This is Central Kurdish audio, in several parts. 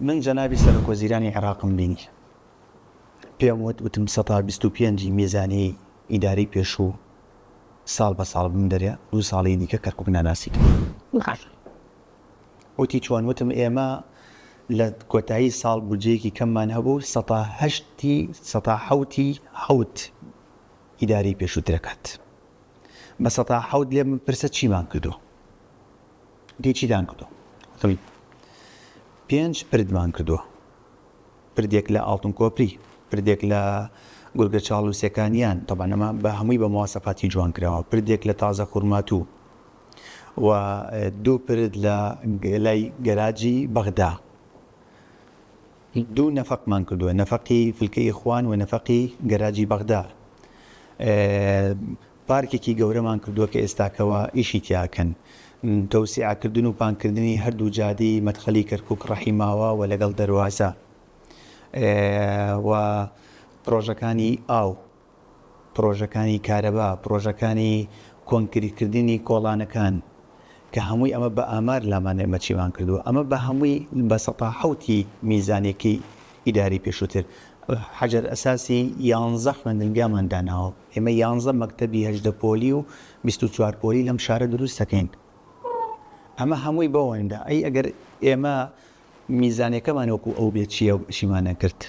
من جەنابی سەرۆک وەزیرانی عێراقم بینی، پێم وت، وتم سەتا بیست و پێنج ی میزانیەی ئیدارەی پێشوو ساڵ بە ساڵ بمدەرێ، دوو ساڵی دیکە کەرکوک ناناسی کەین. وتی چۆن؟ وتم ئێمە لە کۆتایی ساڵ بودجەیەکی کەممان هەبوو، سەتا هەشت ی سەتا حەوت ی حەوت ئیدارەی پێشووت دەکات، بە سەتا حەوت لێم بپرسە چیمان کردووە؟ پێی چیتان کردووە؟ وتم، پێنج پردمان کردووە، پردێک لە ئاڵتون کۆپری، پردێک لە گورگە چاڵوسەکانیان، تەبعەن ئەمە بە هەمووی بە مواسەفاتی جوان کراوە، پردێک لە تازە خورماتوو و دوو پرد لە لای گەراجی بەغدا. دوو نەفەقمان کردووە، نەفەقی فلکەی ئیخوان و نەفەقی گەراجی بەغدا. پارکێکی گەورەمان کردووە کە ئێستاکەوە ئیشی تیا ئەکەن. تەوسیعە کردن و پان کردنی هەردوو جادەی مەدخەلی کەرکوک ڕەحی ماوە و لەگەڵ دەروازە و پڕۆژەکانی ئاو، پڕۆژەکانی کارەبا، پڕۆژەکانی کۆنکریت کردنی کۆڵانەکان کە هەمووی ئەمە بە ئامار لامان ئێمە چیمان کردووە ئەمە بە هەمووی بە سەتا حەوت ی میزانیەکەی ئیدارەی پێشووتر حەجەر ئەساسی یانزە خوێندنگامان داناوە. ئێمە یانزە مەکتەبی هەژدە پۆلی و بیست و چوار پۆلی لەم شارە دروست دەکەین. ئەمە هەمووی بەوەندە. ئەی ئەگەر ئێمە میزانیەکەمان وەکو ئەو بێت چیە ئیشیمان نەکرد.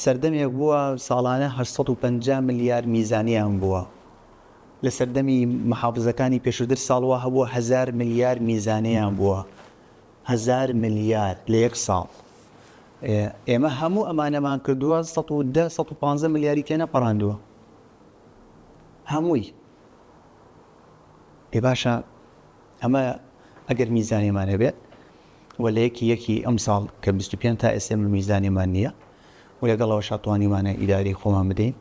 سەردەمێک بووە ساڵانە هەشت سەد و پەنجا ملیار میزانیان بووە. لە سەردەمی محافزەکانی پێشووتر ساڵ وا هەبووە هەزار ملیار میزانیان بووە. هەزار ملیار لە یەک ساڵ ئێمە هەموو ئەمانەمان کردووە سەد و دە سەد و پانزە ملیاری تێنەپەڕاندووە هەمووی ئێ باشە ئەمە ئەگەر میزانێمان هەبێت و لە یەکی یەکی ئەم ساڵ کە 25 تا ئێسێمە میزانێمان نییە و لەگەڵەوە شاتوانیمانە ئیداری خۆمان بدەین